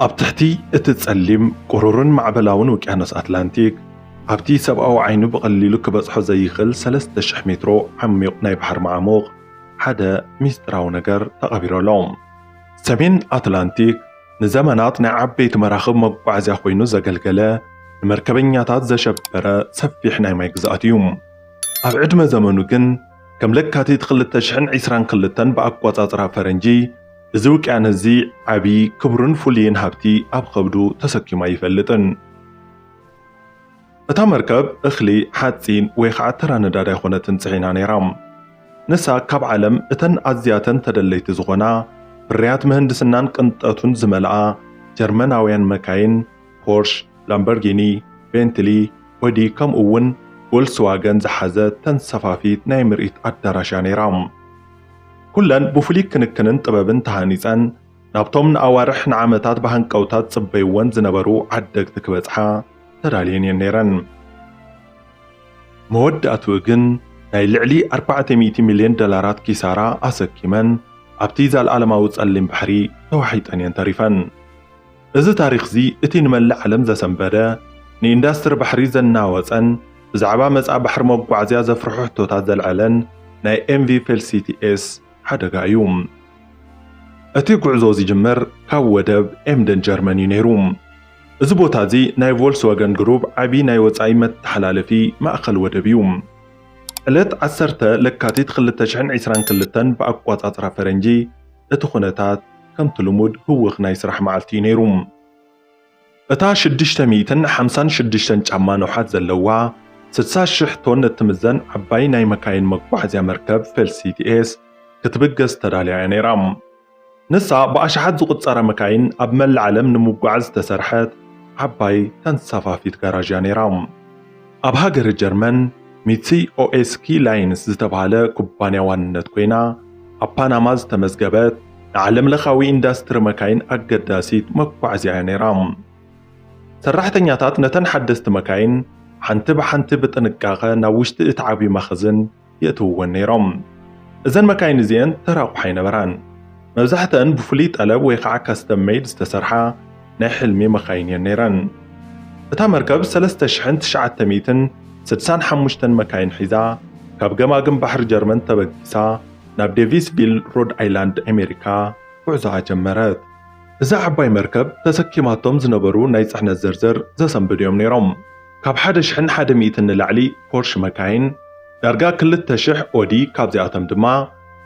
ኣብ ትሕቲ እቲ ጸሊም ቁሩርን ማዕበላውን ውቅያኖስ ኣትላንቲክ ኣብቲ ሰብኣዊ ዓይኑ ብቐሊሉ ክበጽሖ ዘይኽእል 3000 ሜትሮ ዓሚቕ ናይ ባሕሪ መዓሙቕ ሓደ ሚስጥራዊ ነገር ተቐቢሩ ኣሎ። ሰሜን ኣትላንቲክ ንዘመናት ናይ ዓበይቲ መራኽብ መጓዓዝያ ኮይኑ ዘገልገለ ንመርከበኛታት ዘሸበረ ሰፊሕ ናይ ማይ ግዝኣት እዩ። ኣብ ዕድመ ዘመኑ ግን ከም ለካቲት ክልተ ሽሕን ዒስራን ክልተን ብኣቆጻጽራ ፈረንጂ እዚ ውቅያኖስ እዚ ዓቢ ክቡርን ፍሉይን ሃብቲ ኣብ ከብዱ ተሰኪሙ ኣይፈልጥን። እታ መርከብ እኽሊ፣ ሓጺን ወይ ኸኣ ተራ ነዳዲ ኣይኮነትን ጽዒና ነይራ። ንሳ ካብ ዓለም እተን ኣዝያተን ተደለይቲ ዝኾና ፍርያት ምህንድስናን ቅንጠቱን ዝመልኣ ጀርመናውያን መካይን፣ ፖርሽ፣ ላምበርጊኒ፣ ቤንትሊ፣ ኦዲ ከምኡ'ውን ቮልስዋገን ዝሓዘት ተንሰፋፊት ናይ ምርኢት ኣዳራሽ እያ ነይራ። ኩለን ብፍሉይ ክንክንን ጥበብን ተሃኒጸን ናብቶም ንኣዋርሕ ንዓመታት ብሃንቀውታ ዝጽበይወን ዝነበሩ ዓደግቲ ክበጽሓ ተዳልየን እየን ነይረን። መወዳእትኡ ግን ናይ ልዕሊ ኣርባዕተ ሚእቲ ሚልዮን ዶላራት ኪሳራ ኣሰኪመን ኣብቲ ዛልኣለማዊ ጸሊም ባሕሪ ተዋሒጠን እየን ተሪፈን። እዚ ታሪኽዚ እቲ ንመላእ ዓለም ዘሰንበደ፣ ንኢንዳስትሪ ባሕሪ ዘናወጸን ብዛዕባ መጻኢ ባሕሪ መጓዓዝያ ዘፍርሑ ሕቶታት ዘልዐለን ናይ ኤምቪ ፌልሲቲ-ኤስ ሓደጋ እዩ። እቲ ጉዕዞ ዝጅምር ካብ ወደብ ኤምደን ጀርመን እዩ ነይሩ። እዚ ቦታዚ ናይ ቮልስዋገን ግሩፕ ዓቢ ናይ ወጻኢ መተሓላለፊ ማእከል ወደብ እዩ። ዕለት ዓሰርተ ለካቲት ክልተ ሽሕን ዒስራን ክልተን ብኣቆጻጽራ ፈረንጂ፣ እቲ ኩነታት ከምቲ ልሙድ ህውኽ ናይ ስራሕ መዓልቲ እዩ ነይሩ። እታ ሽዱሽተ ሚእትን ሓምሳን ሽዱሽተን ጫማ ንውሓት ዘለዋ፣ ስድሳ ሽሕ ቶን እትምዘን ዓባይ ናይ መካይን መጓዓዝያ መርከብ ፌልሲቲ ኤስ ክትብገስ ተዳልያ እያ ነይራ። ንሳ ብኣሽሓት ዝቑጸራ መካይን ኣብ መላእ ዓለም ንምጉዓዝ ዝተሰርሐት ዓባይ ተንሳፋፊት ጋራዥ እያ ነይራ። ኣብ ሃገረ ጀርመን ሚትሲ ኦኤስኪ ላይንስ ዝተብሃለ ኩባንያ ዋንነት ኮይና ኣብ ፓናማ ዝተመዝገበት ንዓለም ለኻዊ ኢንዳስትሪ መካይን ኣገዳሲት መጓዕዝያ እያ ነይራ። ሰራሕተኛታት ነተን ሓደስቲ መካይን ሓንቲ ብሓንቲ ብጥንቃቐ ናብ ውሽጢ እቲ ዓብዪ መኽዝን የእትውወን ነይሮም። እዘን መካይን እዚኤን ተራ ኣቑሑ ኣይነበራን። መብዛሕትኣን ብፍሉይ ጠለብ ወይ ኸዓ ካስተም መይድ ዝተሰርሓ ናይ ሕልሚ መኻይን እየን ነይረን። እታ መርከብ ሰለስተ ሽሕን ትሽዓተ ሚእትን ስድሳን ሓሙሽተን መካይን ሒዛ ካብ ገማግም ባሕሪ ጀርመን ተበጊሳ ናብ ዴቪስቪል ሮድ ኣይላንድ ኣሜሪካ ጉዕዞኣ ጀመረት። እዛ ዓባይ መርከብ ተሰኪማቶም ዝነበሩ ናይ ፅሕነት ዝርዝር ዘሰንብዱ እዮም ነይሮም። ካብ ሓደ ሽሕን ሓደ ሚእትን ንላዕሊ ፖርሽ መካይን፣ ዳርጋ ክልተ ሽሕ ኦዲ ካብዚኣቶም ድማ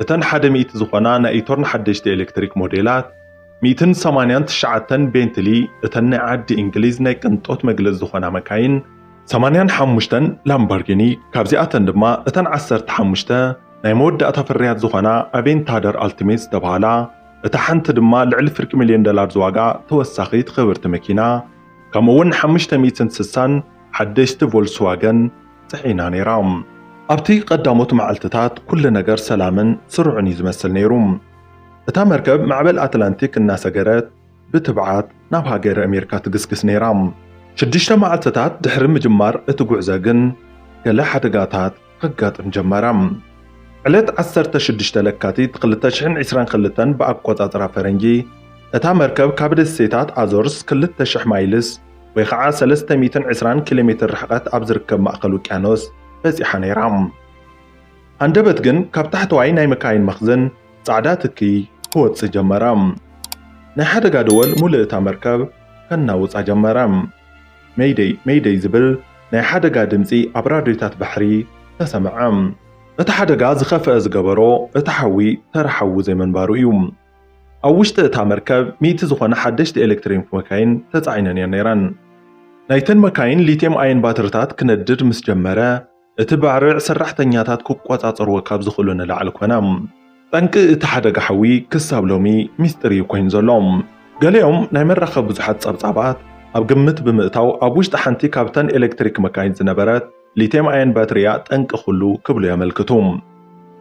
እተን ሓደ ሚእቲ ዝኾና ናይ ኢቶርን ሓደሽቲ ኤለክትሪክ ሞዴላት፣ ሚእትን ሰማንያን ትሽዓተን ቤንትሊ እተን ናይ ዓዲ እንግሊዝ ናይ ቅንጦት መግለጺ ዝኾና መካይን፣ ሰማንያን ሓሙሽተን ላምባርጊኒ ካብዚኣተን ድማ እተን ዓሰርተ ሓሙሽተ ናይ መወዳእታ ፍርያት ዝኾና ኣቬንታደር ኣልቲሜት ዝተብሃላ፣ እታ ሓንቲ ድማ ልዕሊ ፍርቂ ሚልዮን ዶላር ዝዋግኣ ተወሳኺት ኽብርቲ መኪና፣ ከምኡ'ውን ሓሙሽተ ሚእትን ስሳን ሓደሽቲ ቮልስዋገን ጽዒና ነይራ። ኣብቲ ቐዳሞት መዓልትታት ኵሉ ነገር ሰላምን ስሩዕን እዩ ዝመስል ነይሩ። እታ መርከብ ማዕበል ኣትላንቲክ እናሰገረት ብትብዓት ናብ ሃገረ ኣሜሪካ ትግስግስ ነይራ። ሽዱሽተ መዓልትታት ድሕሪ ምጅማር እቲ ጕዕዞ ግን ገለ ሓደጋታት ከጋጥም ጀመረ። ዕለት ዓሰርተ ሽዱሽተ ለካቲት ክልተ ሽሕን ዒስራን ክልተን ብኣቆጻጽራ ፈረንጂ፣ እታ መርከብ ካብ ደሴታት ኣዞርስ ክልተ ሽሕ ማይልስ ወይ ኸዓ ሰለስተ ሚእትን ዕስራን ኪሎሜትር ርሕቐት ኣብ ዝርከብ ማእከል ውቅያኖስ በጺሓ ነይራ። ሃንደበት ግን ካብ ታሕተዋይ ናይ መካይን መኽዝን ጻዕዳ ትኪ ክወጽእ ጀመረ። ናይ ሓደጋ ደወል ሙሉእ እታ መርከብ ከናውጻ ጀመረ። መይደይ! መይደይ! ዝብል ናይ ሓደጋ ድምጺ ኣብ ራድዮታት ባሕሪ ተሰምዐ። እቲ ሓደጋ ዝኸፍኣ ዝገበሮ እቲ ሓዊ ተራ ሓዊ ዘይምንባሩ እዩ። ኣብ ውሽጢ እታ መርከብ ሚእቲ ዝኾና ሓደሽቲ ኤለክትሪክ መካይን ተጻዒነን እየን ነይረን። ናይተን መካይን ሊትየም ኣየን ባትሪታት ክነድድ ምስ ጀመረ፣ እቲ ባርዕ ሰራሕተኛታት ክቆጻጸርዎ ካብ ዝኽእሉ ንላዕሊ ኮነ። ጠንቂ እቲ ሓደጋ ሓዊ ክሳብ ሎሚ ሚስጢር እዩ ኮይኑ ዘሎ። ገሊኦም ናይ መራኸቢ ብዙሓት ጸብጻባት ኣብ ግምት ብምእታው ኣብ ውሽጢ ሓንቲ ካብተን ኤሌክትሪክ መካይን ዝነበረት ሊትየም ኣየን ባትሪ እያ ጠንቂ ኩሉ ክብሉ የመልክቱ።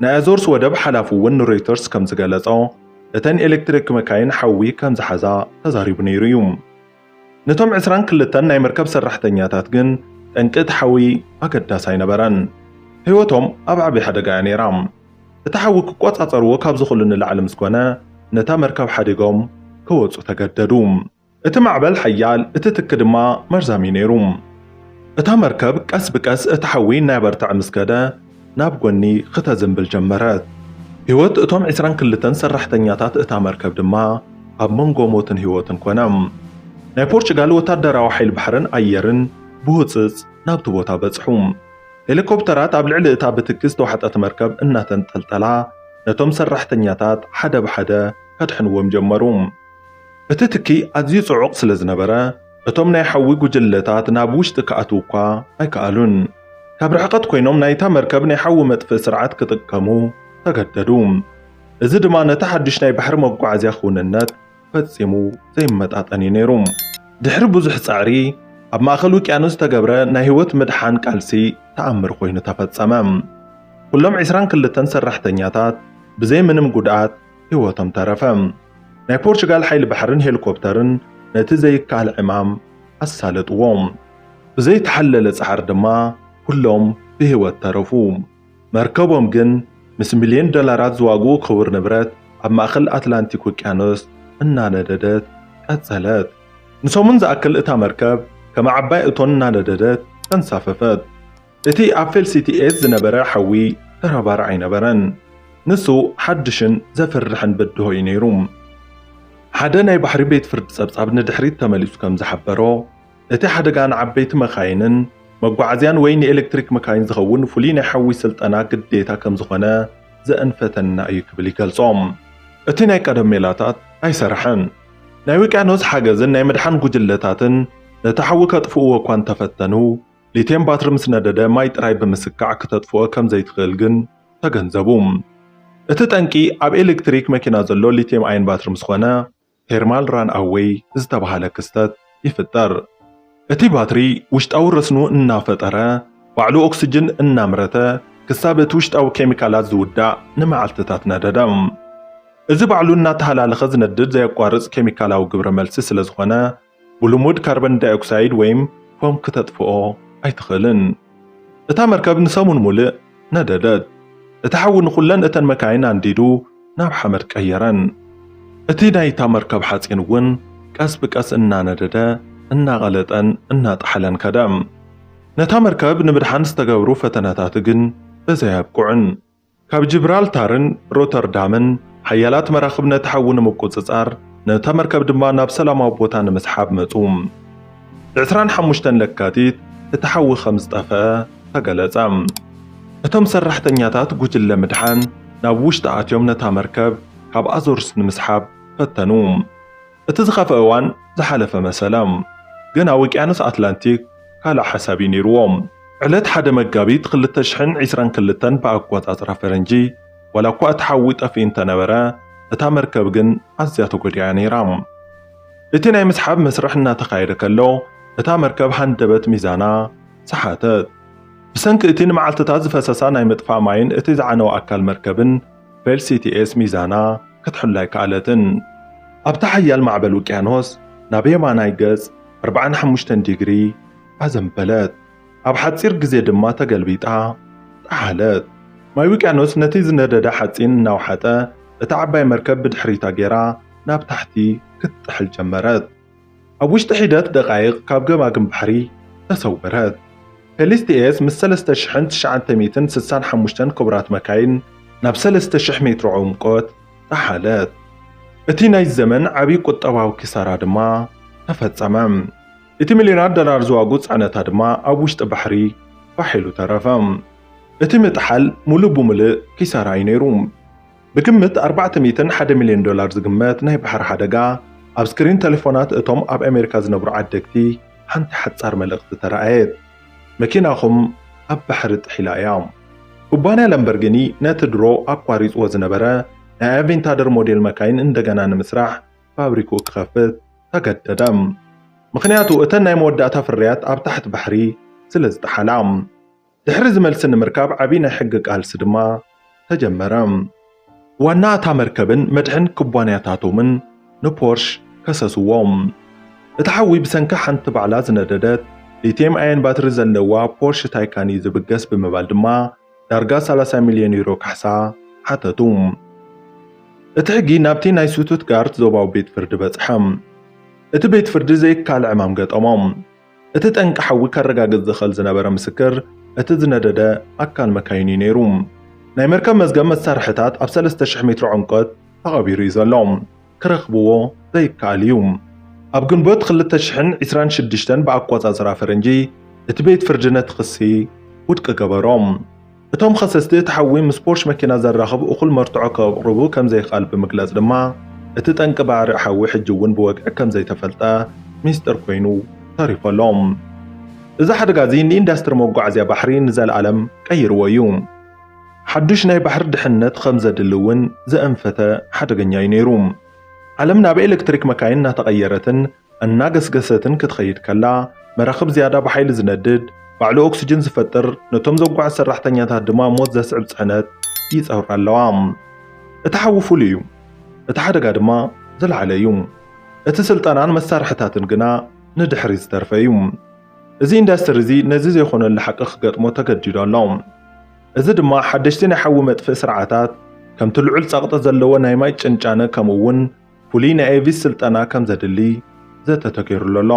ናይ ኣዞርስ ወደብ ሓላፊ እውን ንሮይተርስ ከም ዝገለጾ እተን ኤሌክትሪክ መካይን ሓዊ ከም ዝሓዛ ተዛሪቡ ነይሩ እዩ። ነቶም ዕስራን ክልተን ናይ መርከብ ሰራሕተኛታት ግን ጠንቂ እቲ ሓዊ ኣገዳሲ ኣይነበረን። ህይወቶም ኣብ ዓቢ ሓደጋ እያ ነይራ። እቲ ሓዊ ክቆጻጸርዎ ካብ ዝኽእሉ ንላዕሊ ምስ ኮነ፣ ነታ መርከብ ሓዲጎም ክወጹ ተገደዱ። እቲ ማዕበል ሓያል፣ እቲ ትኪ ድማ መርዛም እዩ ነይሩ። እታ መርከብ ቀስ ብቀስ እቲ ሓዊ እናበርተዐ ምስ ከደ፣ ናብ ጎኒ ኽተዘንብል ጀመረት። ህይወት እቶም ዕስራን ክልተን ሰራሕተኛታት እታ መርከብ ድማ ኣብ መንጎ ሞትን ህይወትን ኰነ። ናይ ፖርቹጋል ወተሃደራዊ ሓይሊ ባሕርን ኣየርን ብህጹጽ ናብቲ ቦታ በጽሑ። ሄሊኮፕተራት ኣብ ልዕሊ እታ ብትኪ ዝተዋሕጠት መርከብ እናተንጠልጠላ ነቶም ሰራሕተኛታት ሓደ ብሓደ ከድሕንዎም ጀመሩ። እቲ ትኪ ኣዝዩ ጽዑቕ ስለ ዝነበረ፣ እቶም ናይ ሓዊ ጉጅለታት ናብ ውሽጢ ክኣትው እኳ ኣይከኣሉን። ካብ ርሕቐት ኮይኖም ናይታ መርከብ ናይ ሓዊ መጥፍእ ስርዓት ክጥቀሙ ተገደዱ። እዚ ድማ ነቲ ሓድሽ ናይ ባሕሪ መጓዓዝያ ክውንነት ፈጺሙ ዘይመጣጠን እዩ ነይሩ። ድሕሪ ብዙሕ ጸዕሪ ኣብ ማእከል ውቅያኖስ ዝተገብረ ናይ ህይወት ምድሓን ቃልሲ ተኣምር ኮይኑ ተፈጸመ። ኩሎም ዕስራን ክልተን ሰራሕተኛታት ብዘይ ምንም ጉድኣት ህይወቶም ተረፈ። ናይ ፖርቹጋል ሓይሊ ባሕርን ሄሊኮፕተርን ነቲ ዘይከኣል ዕማም ኣሳለጥዎ። ብዘይተሓለለ ጻዕሪ ድማ ኩሎም ብህይወት ተረፉ። መርከቦም ግን ምስ ሚልዮን ዶላራት ዝዋግኡ ክቡር ንብረት ኣብ ማእከል ኣትላንቲክ ውቅያኖስ እናነደደት ቀጸለት። ንሰሙን ዝኣክል እታ መርከብ ከም ዓባይ እቶን እናነደደት ተንሳፈፈት። እቲ ኣብ ፌልሲቲኤስ ዝነበረ ሓዊ ተራባሪ ኣይነበረን፣ ንሱ ሓድሽን ዘፍርሕን ብድሆ እዩ ነይሩ። ሓደ ናይ ባሕሪ ቤት ፍርዲ ጸብጻብ ንድሕሪት ተመሊሱ ከም ዝሓበሮ፣ እቲ ሓደጋ ንዓበይቲ መካይንን መጓዓዝያን ወይ ንኤለክትሪክ መካይን ዝኸውን ፍሉይ ናይ ሓዊ ስልጠና ግዴታ ከም ዝዀነ ዘእንፈተና እዩ ክብል ይገልጾ። እቲ ናይ ቀደም ሜላታት ኣይሰረሐን። ናይ ውቅያኖስ ሓገዝን ናይ ምድሓን ጉጅለታትን ነቲ ሓዊ ከጥፍእዎ እኳ እንተፈተኑ፣ ሊትየም ባትሪ ምስ ነደደ ማይ ጥራይ ብምስካዕ ክተጥፍኦ ከም ዘይትኽእል ግን ተገንዘቡ። እቲ ጠንቂ ኣብ ኤሌክትሪክ መኪና ዘሎ ሊትየም ኣየን ባትሪ ምስ ኾነ ቴርማል ራን ኣዌይ ዝተብሃለ ክስተት ይፍጠር። እቲ ባትሪ ውሽጣዊ ረስኑ እናፈጠረ ባዕሉ ኦክስጅን እናምረተ ክሳብ እቲ ውሽጣዊ ኬሚካላት ዝውዳእ ንመዓልትታት ነደደ። እዚ ባዕሉ እናተሃላለኸ ዝነድድ ዘየቋርፅ ኬሚካላዊ ግብረ መልሲ ስለ ዝኾነ ብልሙድ ካርበን ዳይኦክሳይድ ወይም ፎም ክተጥፍኦ ኣይትኽእልን። እታ መርከብ ንሰሙን ሙልእ ነደደት። እቲ ሓዊ ንኹለን እተን መካይን ኣንዲዱ ናብ ሓመድ ቀየረን። እቲ ናይታ መርከብ ሓጺን እውን ቀስ ብቀስ እናነደደ፣ እናቐለጠን እናጠሓለን ከደ። ነታ መርከብ ንምድሓን ዝተገብሩ ፈተነታት ግን በዚ ኣየብቅዑን። ካብ ጂብራልታርን ሮተርዳምን ሓያላት መራኽብ ነቲ ሓዊ ንምቁጽጻር፣ ነታ መርከብ ድማ ናብ ሰላማዊ ቦታ ንምስሓብ መጹ። ብዕስራን ሓሙሽተን ለካቲት እቲ ሓዊ ከም ዝጠፍኣ ተገለጸ። እቶም ሰራሕተኛታት ጉጅለ ምድሓን ናብ ውሽጢ ኣትዮም ነታ መርከብ ካብ ኣዞርስ ንምስሓብ ፈተኑ። እቲ ዝኸፍኣ እዋን ዝሓለፈ መሰላም ገና ወቅያኖስ ኣትላንቲክ ካልእ ሓሳብ እዩ ነይርዎ። ዕለት ሓደ መጋቢት ክልተ ሽሕን ዒስራን ክልተን ብኣቆጻጽራ ፈረንጂ ዋላ እኳ እቲ ሓዊ ጠፊኡ እንተነበረ እታ መርከብ ግን ኣዝያ ተጎዲኣ እያ ነይራ። እቲ ናይ ምስሓብ መስርሕ እናተኻየደ ከሎ እታ መርከብ ሃንደበት ሚዛና ሰሓተት። ብሰንኪ እቲ ንመዓልትታት ዝፈሰሳ ናይ ምጥፋእ ማይን እቲ ዝዓነወ ኣካል መርከብን፣ ፌልሲቲኤስ ሚዛና ክትሕሉ ኣይከኣለትን። ኣብቲ ሓያል ማዕበል ውቅያኖስ ናብ የማናይ ገጽ ኣርብዓን ሓሙሽተን ዲግሪ ኣዘንበለት፣ ኣብ ሓጺር ግዜ ድማ ተገልቢጣ ጠሓለት። ማይ ውቅያኖስ ነቲ ዝነደደ ሓጺን እናውሓጠ፣ እታ ዓባይ መርከብ ብድሕሪታ ገይራ ናብ ታሕቲ ክትጥሕል ጀመረት። ኣብ ውሽጢ ሒደት ደቓይቕ ካብ ገማግም ባሕሪ ተሰወረት። ፌሊስቲኤስ ምስ ሰለስተ ሽሕን ትሽዓተ ሚእትን ስሳን ሓሙሽተን ክቡራት መካይን ናብ ሰለስተ ሽሕ ሜትሮ ዕምቆት ጠሓለት። እቲ ናይዚ ዘመን ዓቢ ቁጠባዊ ኪሳራ ድማ ተፈጸመ። እቲ ሚልዮናት ዶላር ዝዋግኡ ጽዕነታ ድማ ኣብ ውሽጢ ባሕሪ ፋሕ ኢሉ ተረፈ። እቲ ምጥሓል ምሉእ ብምሉእ ኪሳራ እዩ ነይሩ። ብግምት ኣርባዕተ ሚእትን ሓደ ሚልዮን ዶላር ዝግመት ናይ ባሕሪ ሓደጋ፣ ኣብ ስክሪን ተሌፎናት እቶም ኣብ ኣሜሪካ ዝነብሩ ዓደግቲ ሓንቲ ሓጻር መልእኽቲ ተራእየት፣ መኪናኹም ኣብ ባሕሪ ጥሒላ እያ። ኩባንያ ላምበርጊኒ ነቲ ድሮ ኣቋሪጽዎ ዝነበረ ናይ ኣቬንታደር ሞዴል መካይን እንደገና ንምስራሕ ፋብሪክኡ ክኸፍት ተገደደ፣ ምኽንያቱ እተን ናይ መወዳእታ ፍርያት ኣብ ታሕቲ ባሕሪ ስለዝጠሓላ። ድሕሪ እዚ መልሲ ንምርካብ ዓብዪ ናይ ሕጊ ቃልሲ ድማ ተጀመረ። ዋና እታ መርከብን መድሕን ኩባንያታቶምን ንፖርሽ ከሰስዎም። እቲ ሓዊ ብሰንኪ ሓንቲ ባዕላ ዝነደደት ሊትየም ኣየን ባትሪ ዘለዋ ፖርሽ ታይካን እዩ ዝብገስ ብምባል ድማ ዳርጋ ሰላሳ ሚልዮን ዩሮ ካሕሳ ሓተቱ። እቲ ሕጊ ናብቲ ናይ ስቱትጋርት ዞባዊ ቤት ፍርዲ በጽሐ። እቲ ቤት ፍርዲ ዘይካል ዕማም ገጠሞ። እቲ ጠንቂ ሓዊ ከረጋግጽ ዝኽእል ዝነበረ ምስክር እቲ ዝነደደ ኣካል መካይን እዩ ነይሩ። ናይ መርከብ መዝገብ መሳርሕታት ኣብ ሰለስተ ሽሕ ሜትሮ ዕምቆት ተቐቢሩ እዩ ዘሎ። ክረኽብዎ ዘይከኣል እዩ። ኣብ ግንቦት ክልተ ሽሕን ዒስራን ሽዱሽተን ብኣቆጻጽራ ፈረንጂ እቲ ቤት ፍርዲ ነቲ ክሲ ውድቂ ገበሮ። እቶም ኸሰስቲ እቲ ሓዊ ምስ ፖርሽ መኪና ዘራኽብ እኹል መርትዖ ከቕርቡ ከምዘይክኣል ብምግላፅ ድማ እቲ ጠንቂ ባዕርዕ ሓዊ ሕጂ እውን ብወግዒ ከምዘይተፈልጠ ሚስጥር ኮይኑ ተሪፉ ኣሎ። እዚ ሓደጋ እዚ ንኢንዳስትሪ መጓዓዝያ ባሕሪ ንዘልኣለም ቀይርዎ እዩ። ሓዱሽ ናይ ባሕሪ ድሕንነት ኸምዘድሊ እውን ዘእንፈተ ሓደገኛ እዩ ነይሩ። ዓለም ናብ ኤሌክትሪክ መካይን እናተቐየረትን እናገስገሰትን ክትኸይድ ከላ፣ መራኽብ ዝያዳ ብሓይሊ ዝነድድ፣ ባዕሉ ኦክስጅን ዝፈጥር፣ ነቶም ዘጓዕዝ ሰራሕተኛታት ድማ ሞት ዘስዕብ ጽዕነት ይጸውራ ኣለዋ። እቲ ሓዊ ፍሉይ እዩ፣ እቲ ሓደጋ ድማ ዝለዓለ እዩ። እቲ ስልጠናን መሳርሒታትን ግና ንድሕሪት ዝተርፈ እዩ። እዚ ኢንዳስትሪ እዚ ነዚ ዘይኮነሉ ሓቂ ክገጥሞ ተገዲዱ ኣሎ። እዚ ድማ ሓደሽቲ ናይ ሓዊ መጥፍኢ ስርዓታት፣ ከምቲ ልዑል ጸቕጢ ዘለዎ ናይ ማይ ጭንጫነ ከምኡ'ውን፣ ፍሉይ ናይ ኤቪስ ስልጠና ከም ዘድሊ ዘተ ተገይሩሉ ኣሎ።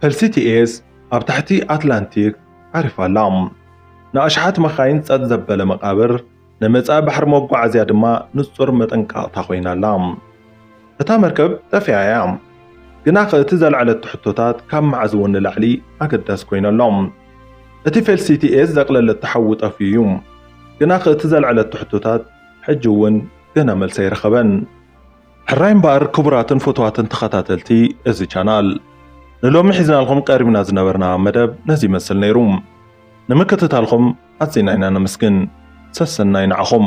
ፈልሲ ቲኤስ ኣብ ታሕቲ ኣትላንቲክ ዓሪፋ ኣላ። ንኣሽሓት መካይን ጸጥ ዘበለ መቓብር፣ ንመጻኢ ባሕሪ መጓዓዝያ ድማ ንጹር መጠንቀቕታ ኮይና ኣላ። እታ መርከብ ጠፊኣ እያ። ግናኸ እቲ ዘልዐለቶ ሕቶታት ካብ መዓዝ እውን ንላዕሊ ኣገዳሲ ኮይኑ ኣሎ። እቲ ፈልሲ ቲኤስ ዘቕለለቶ ሓዊ ጠፍዩ እዩ። ግናኸ እቲ ዘልዐለቶ ሕቶታት ሕጂ እውን ገና መልሲ ኣይረኸበን። ሕራይ እምበኣር ክቡራትን ፍቱዋትን ተኸታተልቲ እዚ ቻናል ንሎሚ ሒዝናልኹም ቀሪብና ዝነበርና መደብ ነዚ ይመስል ነይሩ። ንምክትታልኹም ኣዚና ኢና ነመስግን። ሰሰናዩ ንዓኹም።